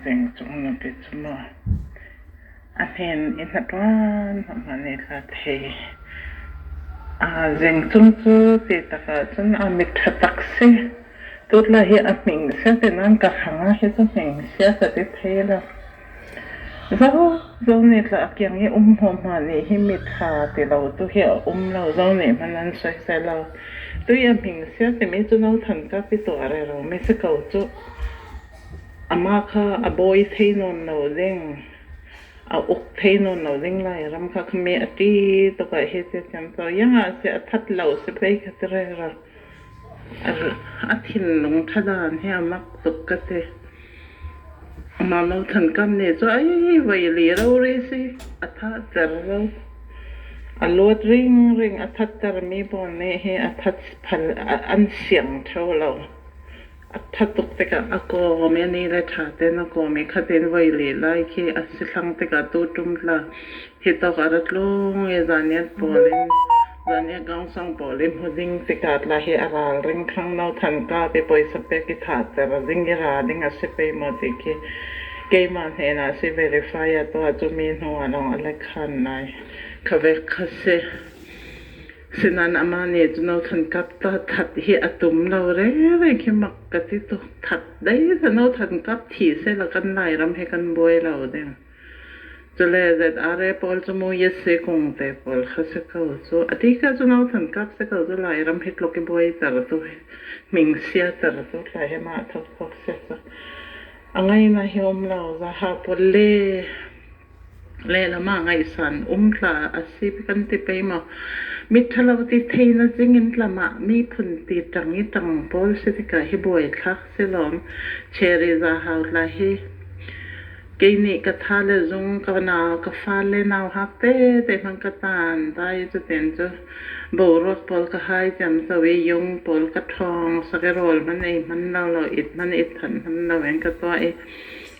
Vengchung nupi cu maw a hnen i hla ṭuan hmanh nih ka thei. Aa vengchung cu ti takah cun a miṭha tak si. Tut lah hi a hming si a ti nain ka hrang ah hi cu hming si a ka ti thai lo. Zo nih tla a kiang i um hmuahhmuah nih hi miṭha ti lo tu hi a um lo. Zo nih hman an soisel lo. Tui a hming a si a timi cu No Than Kapi tu a rero mi si ko cuh. Amah kha a bawi thei nawn lo ding, a uk thei nawn lo ding lai. Ram kha khami a ti tuk ah hi ti cun. So iang ah sih a that lo si pei kha ti rero. A thinlung ṭhadan he a mak tuk ka ti. Amah Lo Than Kam nih cun "Ai voi li ro ri si, a thahter ro. A luat ringring a thattermi pawl nih hi a phan siang ṭheo lo." A ttha tuk tikah a kawm i ni le ṭha tein a kawm i khatin voi li lai khi a si thlang tikah tu ṭum hlah. Hi tok a ra tlung i zaniat pawl in zaniat gangsang pawl i hmu ding tikah tlah hi a ral ring thlang no than ka pi pawisa pek i thahter ding i ra ding a si pei maw ti khi keimah hnenah si verify a tuah cu mi hnu ah lawng a let ṭhan lai. Khavek kha si. Sinain amah nih cun a kan kap ta. That hi a tum lo rengren khi mak ka ti tuk. That dei hlan a kan kap thi seh law kan Lairam hi kan buai lo ding. Cule ZRA pawl cu mu Yessi kung te pawl kha si ko cu. A ti ka cun a kan kap si ko cu Lairam hi tluk i buai ter tu hi. Ming sia ter tu tla hi mah thok thok si cu. A ngaina hi um lo. Zaha pawl le lehlam ah ngaihsan um hlah a si kan ti pei maw? Miṭhalo ti theihnak ding in tlam ah miphun ti ṭang i ṭang pawl si tikah hi buaithlak si lawm. Cherry za hau hlah hi. Kei nih ka tha le zung ka nau ka fa le nau hak tete hmang ka tan dai cutin cu boruak pawl ka hai tiam so i yung pawl ka ṭhawng sak i rawl hman ei hman lo lo it hman it than hman lo in ka tuah i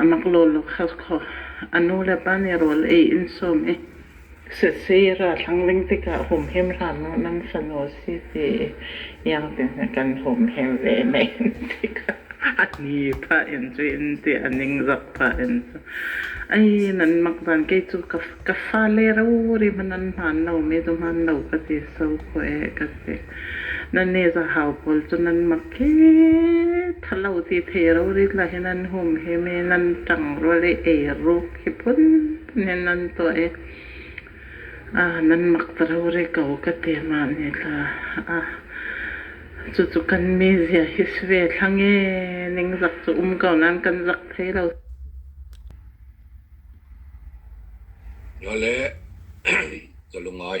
A mak lo lo kha khaw. A nu le pa nih rawl ei in sawm i sasei ralhrang ving tikah humhim hram u, nan fanu a si ti i iang tein kan humhim ve men tikah a ni pah in cu in ti a ningzak pah in cu. Ai nan mak zan kei cu ka fa le rori hmanh an hmaan lo, mei dum hmaan lo ka ti sau khawh ee ka ti. Nannih zahau pawl cu nan mak hi thalo ti thei ro rit la hi nan hum hi mi nan ṭangrol i eiruk hi phun in nan tuah i ah nan mak ta ro ri ko ka ti mah nih hla ah cucu kan mizia hi sive thlang e ningzak cu um ko nan kan zak thei lo Noleh, zalungai.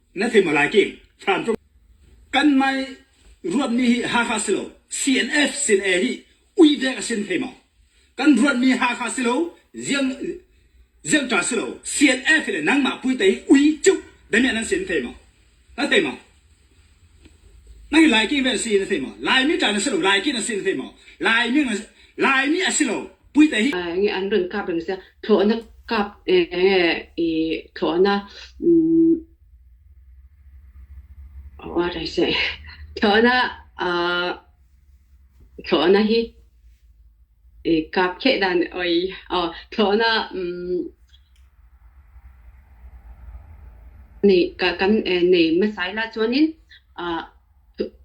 na thei ma lai kim than tum kan mai ruat mi hi Hakha silo CNF sin e hi ui dek asin thei ma kan ruat mi Hakha silo ziang ziang ta silo CNF le nang ma pui tai ui chu dami nan sin thei ma na thei ma nang lai ki ven si na thei ma lai mi ta na silo lai ki na sin thei ma lai mi na lai mi asilo nge an run kap reng sia thlawhnak kap nge i thlawhnak what I say thlawhnak uh thlawhnak hi i kap khe dan oi oh thlawhnak nei ka kan nei masai la chuanin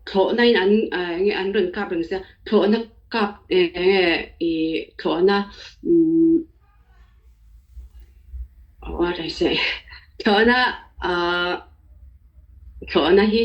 thlawhnak in an an run kap reng si thlawhnak kap i thlawhnak what I say thlawhnak thlawhnak hi